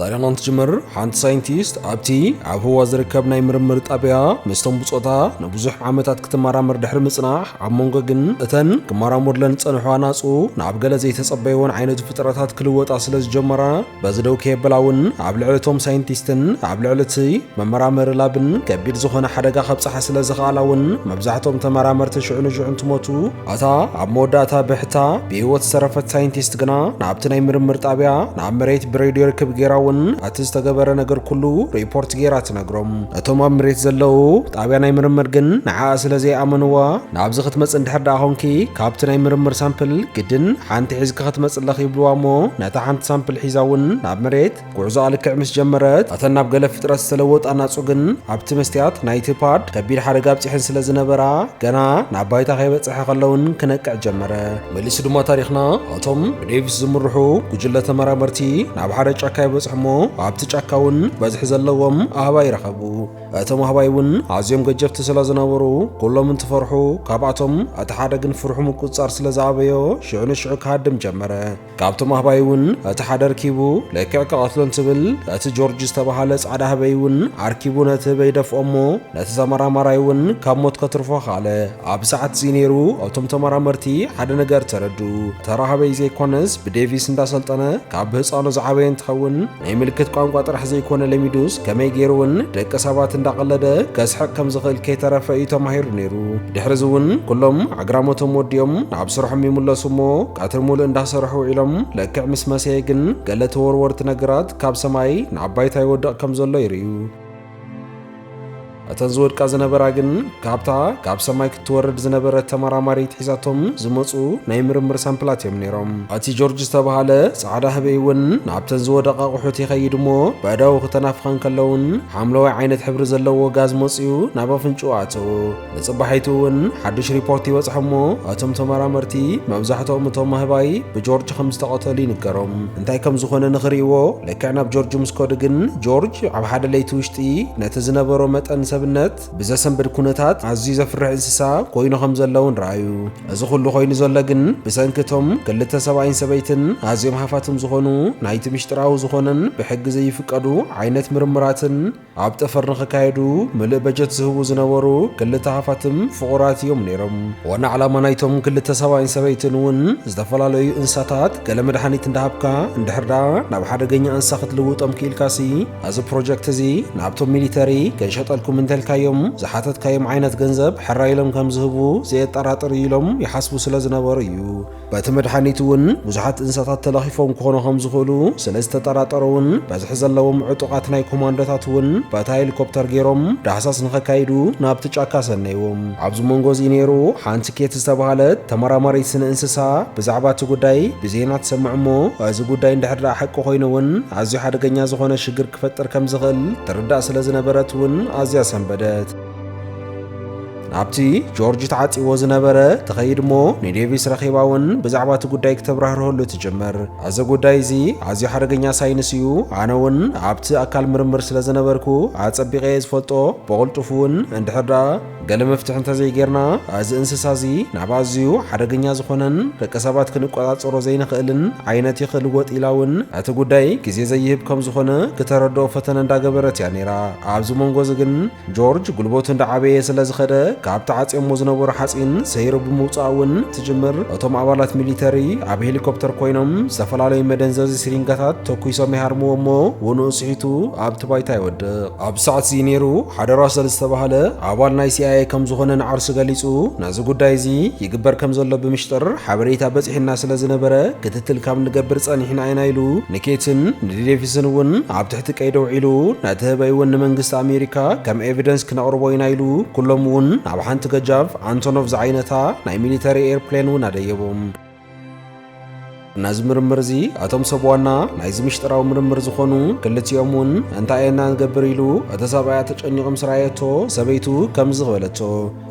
ታሪኽና እንትጅምር ሓንቲ ሳይንቲስት ኣብቲ ኣብ ህዋ ዝርከብ ናይ ምርምር ጣብያ ምስቶም ብጾታ ንብዙሕ ዓመታት ክትመራመር ድሕሪ ምጽናሕ ኣብ መንጎ ግን እተን ክመራመርለን ዝጸንሑ ኣናጹ ናብ ገለ ዘይተጸበይዎን ዓይነት ፍጥረታት ክልወጣ ስለ ዝጀመራ በዚ ደው ከየበላ እውን ኣብ ልዕሊ እቶም ሳይንቲስትን ኣብ ልዕሊ እቲ መመራመሪ ላብን ከቢድ ዝኾነ ሓደጋ ከብጽሓ ስለ ዝኸኣላ እውን መብዛሕቶም ተመራመርቲ ሽዑ ንሽዑ እንትሞቱ ኣታ ኣብ መወዳእታ ብሕታ ብህይወት ዝተረፈት ሳይንቲስት ግና ናብቲ ናይ ምርምር ጣብያ ናብ መሬት ብሬድዮ ርክብ ገይራ እውን እቲ ዝተገበረ ነገር ኩሉ ሪፖርት ገይራ ትነግሮም። እቶም ኣብ ምሬት ዘለው ጣብያ ናይ ምርምር ግን ንዓኣ ስለ ዘይኣመንዋ ናብዚ ክትመጽ እንድሕር ደኣ ኮንኪ ካብቲ ናይ ምርምር ሳምፕል ግድን ሓንቲ ሒዝኪ ክትመጽ ኣለኺ ይብልዋ እሞ ነታ ሓንቲ ሳምፕል ሒዛ እውን ናብ መሬት ጉዕዞኣ ልክዕ ምስ ጀመረት ኣተን ናብ ገለ ፍጥረት ዝተለወጣ ናጹ ግን ኣብቲ መስትያት ናይቲ ፓድ ከቢድ ሓደጋ ኣብጺሐን ስለ ዝነበራ ገና ናብ ባይታ ከይበጽሐ ከለውን ክነቅዕ ጀመረ። መሊሱ ድማ ታሪኽና ኣቶም ብዴቪስ ዝምርሑ ጉጅለ ተመራመርቲ ናብ ሓደ ጫካ ይበጽሑ እሞ ኣብቲ ጫካ እውን በዝሒ ዘለዎም ኣህባይ ረኸቡ። እቶም ኣህባይ እውን ኣዝዮም ገጀፍቲ ስለ ዝነበሩ ኩሎም እንትፈርሑ ካብኣቶም እቲ ሓደ ግን ፍርሑ ምቁጽጻር ስለ ዝኣበዮ ሽዑ ንሽዑ ክሃድም ጀመረ። ካብቶም ኣህባይ እውን እቲ ሓደ ኣርኪቡ ልክዕ ክቐትሎ እንትብል እቲ ጆርጅ ዝተባሃለ ጻዕዳ ህበይ እውን ኣርኪቡ ነቲ ህበይ ደፍኦ እሞ ነቲ ተመራማራይ እውን ካብ ሞት ከትርፎ ኻለ ኣብ ሰዓት እዚ ነይሩ እቶም ተመራመርቲ ሓደ ነገር ተረዱ ተራ ህበይ ዘይኮነስ ብዴቪስ እንዳሰልጠነ ካብ ህፃኑ ዝዓበየ እንትኸውን ናይ ምልክት ቋንቋ ጥራሕ ዘይኮነ ለሚዱስ ከመይ ገይሩ እውን ደቂ ሰባት እንዳቐለደ ከስሕቕ ከም ዝኽእል ከይተረፈ እዩ ተማሂሩ ነይሩ። ድሕሪ እዚ እውን ኩሎም ኣግራሞቶም ወዲኦም ናብ ስርሖም ይምለሱ እሞ ቀትሪ ሙሉእ እንዳሰርሑ ውዒሎም ልክዕ ምስ መሰየ ግን ገለ ተወርወርቲ ነገራት ካብ ሰማይ ናብ ባይታ ይወድቕ ከም ዘሎ ይርእዩ። እተን ዝወድቃ ዝነበራ ግን ካብታ ካብ ሰማይ ክትወርድ ዝነበረት ተመራማሪት ሒዛቶም ዝመፁ ናይ ምርምር ሳምፕላት እዮም ነይሮም እቲ ጆርጅ ዝተባሃለ ፃዕዳ ህበይ እውን ናብተን ዝወደቃ ኣቑሑት ይኸይድ እሞ በእዳው ክተናፍኸን ከለውን ሓምለዋይ ዓይነት ሕብሪ ዘለዎ ጋዝ መፅዩ ናብ ኣፍንጭኡ ኣተው ንጽባሒቱ እውን ሓድሽ ሪፖርት ይበጽሖ እሞ እቶም ተመራመርቲ መብዛሕትኦም እቶም ኣህባይ ብጆርጅ ከም ዝተቐተሉ ይንገሮም እንታይ ከም ዝኾነ ንኽርእይዎ ልክዕ ናብ ጆርጅ ምስ ከዱ ግን ጆርጅ ኣብ ሓደ ለይቲ ውሽጢ ነቲ ዝነበሮ መጠን ሰብነት ብዘሰንብድ ኩነታት ኣዝዩ ዘፍርሕ እንስሳ ኮይኑ ከም ዘሎ እውን ረኣዩ እዚ ኩሉ ኮይኑ ዘሎ ግን ብሰንኪ እቶም ክልተ ሰብኣይን ሰበይትን ኣዝዮም ሃፋትም ዝኾኑ ናይቲ ምሽጥራዊ ዝኾነን ብሕጊ ዘይፍቀዱ ዓይነት ምርምራትን ኣብ ጠፈር ንክካየዱ ምልእ በጀት ዝህቡ ዝነበሩ ክልተ ሃፋትም ፍቑራት እዮም ነይሮም። ዋና ዕላማ ናይቶም ክልተ ሰብኣይን ሰበይትን እውን ዝተፈላለዩ እንስሳታት ገለ መድሓኒት እንዳሃብካ እንድሕር ደኣ ናብ ሓደገኛ እንስሳ ክትልውጦም ክኢልካሲ ነዚ ፕሮጀክት እዚ ናብቶም ሚሊተሪ ክንሸጠልኩም እንተልካዮም ዝሓተትካዮም ዓይነት ገንዘብ ሕራይ ኢሎም ከምዝህቡ ዘየጠራጥር እዩ ኢሎም ይሓስቡ ስለዝነበሩ እዩ። በቲ መድሓኒት እውን ብዙሓት እንስሳታት ተለኺፎም ክኾኑ ከም ዝኽእሉ ስለ ዝተጠራጠረ እውን በዝሒ ዘለዎም ዕጡቓት ናይ ኮማንዶታት እውን በታ ሄሊኮፕተር ገይሮም ዳህሳስ ንኸካይዱ ናብቲ ጫካ ሰነይዎም። ኣብዚ መንጎ እዚ ነይሩ ሓንቲ ኬት ዝተባሃለት ተመራማሪት ስነ እንስሳ ብዛዕባ እቲ ጉዳይ ብዜና ትሰምዕ እሞ እዚ ጉዳይ እንድሕር ደኣ ሓቂ ኮይኑ እውን ኣዝዩ ሓደገኛ ዝኾነ ሽግር ክፈጥር ከም ዝኽእል ትርዳእ ስለ ዝነበረት እውን ኣዝያ ሰንበደት። ናብቲ ጆርጅ ተዓጺዎ ዝነበረ ትኸይድ እሞ ንዴቪስ ረኺባ እውን ብዛዕባ እቲ ጉዳይ ክተብራህርሀሉ ትጅምር። እዚ ጉዳይ እዚ ኣዝዩ ሓደገኛ ሳይንስ እዩ፣ ኣነ እውን ኣብቲ ኣካል ምርምር ስለ ዝነበርኩ ኣጸቢቐ እየ ዝፈልጦ፣ ብቕልጡፍ እውን እንድሕር ደኣ ገለ መፍትሒ እንተዘይጌርና እዚ እንስሳ እዚ ናብ ኣዝዩ ሓደገኛ ዝኾነን ደቂ ሰባት ክንቆጻጸሮ ዘይንኽእልን ዓይነት እዩ ክልወጥ ኢላ እውን እቲ ጉዳይ ግዜ ዘይህብ ከም ዝኾነ ክተረድኦ ፈተነ እንዳገበረት እያ ነይራ። ኣብዚ መንጎ እዚ ግን ጆርጅ ጉልበቱ እንዳዓበየ ስለ ዝኸደ ካብ ተዓጽዮሞ ዝነበሩ ሓጺን ሰይሩ ብምውጻእ እውን ትጅምር። እቶም ኣባላት ሚሊተሪ ኣብ ሄሊኮፕተር ኮይኖም ዝተፈላለዩ መደንዘዚ ሲሪንጋታት ተኩሶም ይሃርምዎ እሞ ውኑኡ ስሒቱ ኣብቲ ባይታ ይወድቕ። ኣብዚ ሰዓት እዚ ነይሩ ሓደ ራሰል ዝተባህለ ኣባል ናይ ሲኣይኤ ከም ዝኾነ ንዓርሱ ገሊጹ ነዚ ጉዳይ እዚ ይግበር ከም ዘሎ ብምሽጥር ሓበሬታ በጺሑና ስለ ዝነበረ ክትትል ካብ ንገብር ጸኒሕና ኢና ኢሉ ንኬትን ንዴቪስን እውን ኣብ እቲ ቀይዲ ውዒሉ ነቲ ህበይ እውን ንመንግስቲ ኣሜሪካ ከም ኤቪደንስ ክነቕርቦ ኢና ኢሉ ኩሎም እውን ናብ ሓንቲ ገጃፍ ኣንቶኖቭ ዝዓይነታ ናይ ሚሊተሪ ኤርፕሌን እውን ኣደየቦም። ነዚ ምርምር እዚ እቶም ሰብ ዋና ናይዚ ምሽጥራዊ ምርምር ዝኾኑ ክልቲኦም እውን እንታይ ኢና ንገብር ኢሉ እቲ ሰብኣያ ተጨኒቑ ምስ ረኣየቶ ሰበይቱ ከምዚ በለቶ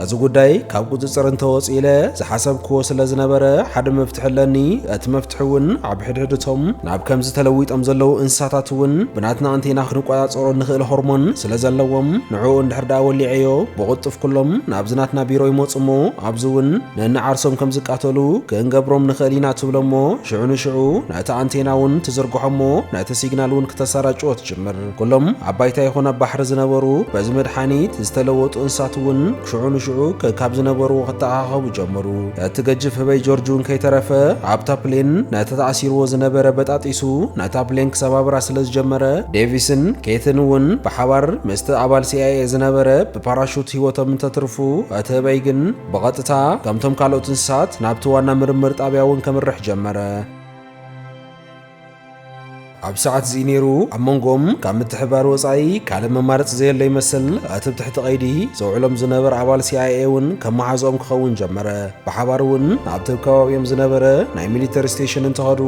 እዚ ጉዳይ ካብ ቁጽጽር እንተወጽእ ኢለ ዝሓሰብክዎ ስለ ዝነበረ ሓደ መፍትሒ ኣለኒ። እቲ መፍትሒ እውን ኣብ ሕድሕድ እቶም ናብ ከምዚ ተለዊጦም ዘለዉ እንስሳታት እውን ብናትና ኣንቴና ክንቆጻጸሮ እንኽእል ሆርሞን ስለ ዘለዎም ንዕኡ እንድሕር ደኣ ወሊዐዮ ብቕልጡፍ ኩሎም ናብዚ ናትና ቢሮ ይመጹ እሞ ኣብዚ እውን ነንዓርሶም ከም ዝቃተሉ ክንገብሮም ንኽእል ኢና ትብሎ እሞ ሽዑ ንሽዑ ነቲ ኣንቴና እውን ትዝርግሖ እሞ ነቲ ሲግናል እውን ክተሰራጭዎ ትጅምር። ኩሎም ኣብ ባይታ ይኹን ኣብ ባሕሪ ዝነበሩ በዚ መድሓኒት ዝተለወጡ እንስሳት እውን ሽዑ ንሽዑ ከካብ ዝነበርዎ ክተኣኻኸቡ ጀመሩ። እቲ ገጅፍ ህበይ ጆርጅ እውን ከይተረፈ ኣብታ ፕሌን ነቲ ተኣሲርዎ ዝነበረ በጣጢሱ ነታ ፕሌን ክሰባብራ ስለ ዝጀመረ ዴቪስን ኬትን እውን ብሓባር ምስቲ ኣባል ሲኣይኤ ዝነበረ ብፓራሹት ህይወቶም እንተትርፉ እቲ ህበይ ግን ብቐጥታ ከምቶም ካልኦት እንስሳት ናብቲ ዋና ምርምር ጣብያ እውን ከምርሕ ጀመረ። ኣብ ሰዓት'ዚ ነይሩ ኣብ መንጎኦም ካብ ምትሕብባር ወጻኢ ካልእ መማረጺ ዘየለ ይመስል። እቲ ብ ትሕቲ ቀይዲ ዘውዕሎም ዝነበረ ኣባል ሲኣይኤ እውን ከም መሓዝኦም ክኸውን ጀመረ። ብሓባር እውን ናብቲ ብ ከባቢኦም ዝነበረ ናይ ሚሊተሪ ስቴሽን እንተኸዱ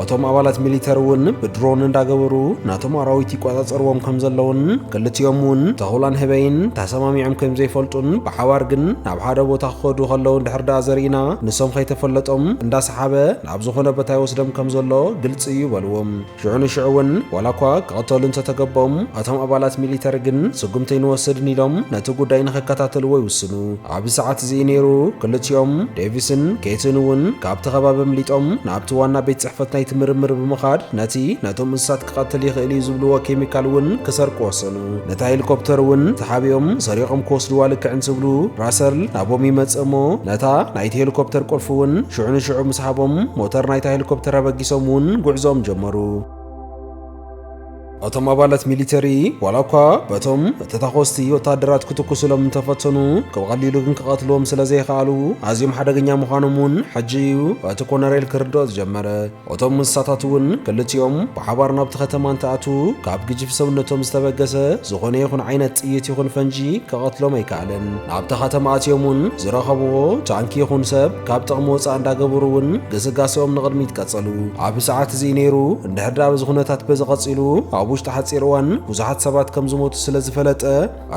እቶም ኣባላት ሚሊተሪ እውን ብድሮን እንዳገበሩ ነቶም ኣራዊት ይቆጻጸርዎም ከም ዘለዉን ክልቲኦም እውን ተኹላን ህበይን ተሰማሚዖም ከም ዘይፈልጡን ብሓባር ግን ናብ ሓደ ቦታ ክኸዱ ከለዉ እንድሕር ደኣ ዘርእና ንሶም ከይተፈለጦም እንዳሰሓበ ናብ ዝኾነ ቦታ ይወስደም ከም ዘሎ ግልጺ እዩ በሉ። ሽዑ ንሽዑ እውን ዋላ እኳ ክቕተሉ እንተ ተገበኦም እቶም ኣባላት ሚሊተሪ ግን ስጉምቲ ኣይንወስድን ኢሎም ነቲ ጉዳይ ንኸከታተልዎ ይውስኑ። ኣብዚ ሰዓት እዚ እዩ ነይሩ ክልቲኦም ዴቪስን ኬትን እውን ካብቲ ከባቢ ኣምሊጦም ናብቲ ዋና ቤት ጽሕፈት ናይቲ ምርምር ብምኻድ ነቲ ነቶም እንስሳት ክቐትል ይኽእል እዩ ዝብልዎ ኬሚካል እውን ክሰርቁ ወሰኑ። ነታ ሄሊኮፕተር እውን ተሓቢኦም ሰሪቖም ክወስድዋ ልክዕ እንትብሉ ራሰል ናቦም ይመጽእ እሞ ነታ ናይቲ ሄሊኮፕተር ቁልፊ እውን ሽዑ ንሽዑ ምስ ሃቦም ሞተር ናይታ ሄሊኮፕተር ኣበጊሶም እውን ጉዕዞኦም ጀመሩ። እቶም ኣባላት ሚሊተሪ ዋላ እኳ በቶም ተታኾስቲ ወታደራት ክትኩስሎም እንተፈተኑ ብቐሊሉ ግን ክቐትልዎም ስለ ዘይኸኣሉ ኣዝዮም ሓደገኛ ምዃኖም እውን ሕጂ እዩ እቲ ኮነሬል ክርድኦ ዝጀመረ። እቶም እንስሳታት እውን ክልቲኦም ብሓባር ናብቲ ከተማ እንትኣትዉ ካብ ግጅፍ ሰውነቶም ዝተበገሰ ዝኾነ ይኹን ዓይነት ጥይት ይኹን ፈንጂ ከቐትሎም ኣይከኣለን። ናብታ ከተማ ኣትዮም እውን ዝረኸብዎ ታንኪ ይኹን ሰብ ካብ ጥቕሚ ወፃእ እንዳገበሩ እውን ግስጋሰኦም ንቕድሚት ቀፀሉ። ኣብ ሰዓት እዚ ነይሩ እንድሕር ዳኣ በዚ ኩነታት በዚ ቀፂሉ ኣብ ውሽጢ ሓፂር እዋን ብዙሓት ሰባት ከምዝሞቱ ስለዝፈለጠ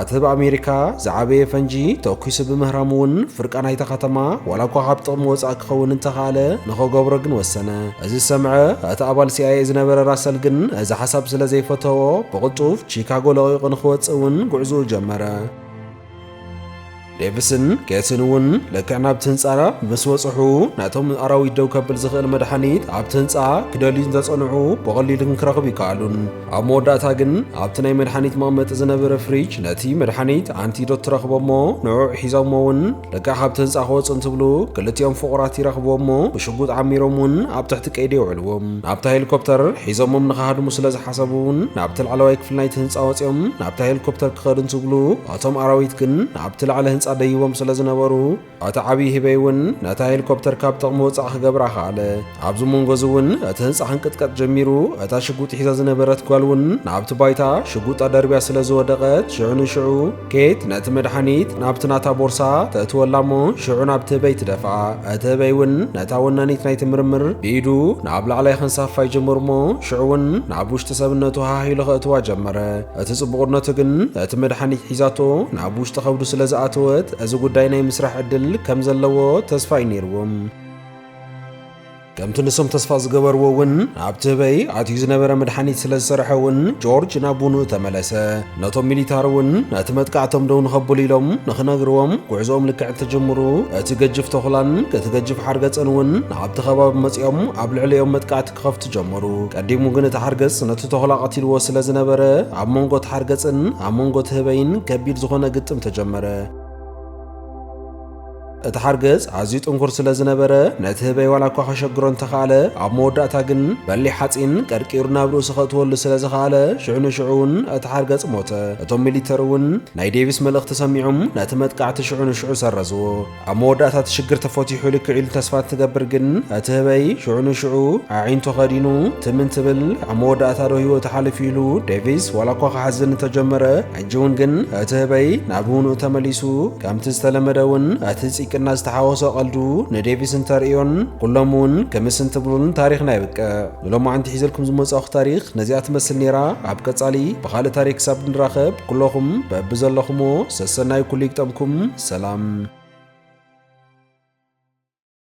ኣቲ ብ ኣሜሪካ ዝዓበየ ፈንጂ ተኩሱ ብምህራሙ እውን ፍርቃ ናይታ ከተማ ዋላ እኳ ካብ ጥቕሚ ወጻእ ክኸውን እንተኻእለ ንኸገብሮ ግን ወሰነ። እዚ ዝሰምዐ እቲ ኣባል ሲኣይኤ ዝነበረ ራሰል ግን እዚ ሓሳብ ስለ ዘይፈተዎ ብቕልጡፍ ቺካጎ ለቒቑ ንኽወጽእ እውን ጉዕዝኡ ጀመረ። ዴቭስን ኬትን እውን ልክዕ ናብቲ ህንጻ ምስ በጽሑ ነቶም ኣራዊት ደው ከብል ዝኽእል መድሓኒት ኣብቲ ህንጻ ክደልዩ እንተጸንዑ ብቐሊሉ ክንክረኽብ ይከኣሉን። ኣብ መወዳእታ ግን ኣብቲ ናይ መድሓኒት መቐመጢ ዝነበረ ፍሪጅ ነቲ መድሓኒት ኣንቲዶት ትረኽቦ እሞ ንዕዑ ሒዞሞ እውን ልክዕ ካብቲ ህንጻ ክወጹ እንትብሉ ክልቲኦም ፍቑራት ይረኽብዎ እሞ ብሽጉጥ ዓሚሮም እውን ኣብ ትሕቲ ቀይዲ የውዕልዎም። ናብታ ሄሊኮፕተር ሒዞሞም ንኽሃድሙ ስለ ዝሓሰቡ እውን ናብቲ ላዕለዋይ ክፍሊ ናይቲ ህንጻ ወጺኦም ናብታ ሄሊኮፕተር ክኸዱ እንትብሉ ኣቶም ኣራዊት ግን ኣብቲ ላዕሊ ህንጻ ደይቦም ስለ ዝነበሩ እቲ ዓብዪ ህበይ እውን ነታ ሄሊኮፕተር ካብ ጥቕሚ ወጻእ ክገብራ ከኣለ። ኣብዚ መንጎ እዚ እውን እቲ ህንጻ ክንቅጥቀጥ ጀሚሩ፣ እታ ሽጉጥ ሒዛ ዝነበረት ጓል እውን ናብቲ ባይታ ሽጉጣ ደርብያ ስለ ዝወደቐት ሽዑ ንሽዑ ኬት ነቲ መድሓኒት ናብቲ ናታ ቦርሳ ተእትወላ እሞ ሽዑ ናብቲ ህበይ ትደፍኣ። እቲ ህበይ እውን ነታ ወናኒት ናይቲ ምርምር ብኢዱ ናብ ላዕላይ ከንሳፍፋ ይጀምር እሞ ሽዑ እውን ናብ ውሽጢ ሰብነቱ ሃህ ኢሉ ከእትዋ ጀመረ። እቲ ጽቡቕነቱ ግን እቲ መድሓኒት ሒዛቶ ናብ ውሽጢ ከብዱ ስለ ዝኣተወት እዚ ጉዳይ ናይ ምስራሕ ዕድል ከም ዘለዎ ተስፋ እዩ ነይርዎም። ከምቲ ንሶም ተስፋ ዝገበርዎ እውን ኣብቲ ህበይ ኣትዩ ዝነበረ መድሓኒት ስለ ዝሰርሐ እውን ጆርጅ ናብ ቡንኡ ተመለሰ። ነቶም ሚሊታር እውን ነቲ መጥቃዕቶም ደው ንኸብሉ ኢሎም ንኽነግርዎም ጉዕዞኦም ልክዕ እንትጅምሩ እቲ ገጅፍ ተኹላን እቲ ገጅፍ ሓርገጽን እውን ናብቲ ከባቢ መጺኦም ኣብ ልዕሊኦም መጥቃዕቲ ክኸፍቱ ጀመሩ። ቀዲሙ ግን እቲ ሓርገጽ ነቲ ተኹላ ቀቲልዎ ስለ ዝነበረ፣ ኣብ መንጎ እቲ ሓርገጽን ኣብ መንጎ እቲ ህበይን ከቢድ ዝኾነ ግጥም ተጀመረ። እቲ ሓርገጽ ኣዝዩ ጥንኩር ስለ ዝነበረ፣ ነቲ ህበይ ዋላ እኳ ከሸግሮ እንተኸኣለ፣ ኣብ መወዳእታ ግን በሊሕ ሓጺን ቀርቂሩ ናብ ርእሱ ከእትወሉ ስለ ዝኸኣለ፣ ሽዑ ንሽዑ እውን እቲ ሓርገጽ ሞተ። እቶም ሚሊተሪ እውን ናይ ዴቪስ መልእኽቲ ሰሚዖም ነቲ መጥቃዕቲ ሽዑ ንሽዑ ሰረዝዎ። ኣብ መወዳእታ እቲ ሽግር ተፈቲሑ ልክዕ ኢሉ ተስፋ እንትገብር ግን እቲ ህበይ ሽዑ ንሽዑ ኣዒንቱ ከዲኑ ትም እንትብል ኣብ መወዳእታ ዶ ህይወቱ ሓሊፉ ኢሉ ዴቪስ ዋላ እኳ ክሓዝን እንተጀመረ ሕጂ እውን ግን እቲ ህበይ ናብ ውንኡ ተመሊሱ ከምቲ ዝተለመደ እውን እቲ ፂቅና ዝተሓወሶ ቀልዱ ንዴቪስ እንተርእዮን ኩሎም እውን ክምስ እንትብሉን ታሪኽና የብቅዕ። ንሎማዓንቲ ሒዘልኩም ዝመፃእኹ ታሪኽ ነዚኣ ትመስል ነይራ ኣብ ቀፃሊ ብኻልእ ታሪክ ክሳብ ንራኸብ ኩሎኹም በብዘለኹሞ ሰሰናይ ኩሉ ይግጠምኩም ሰላም።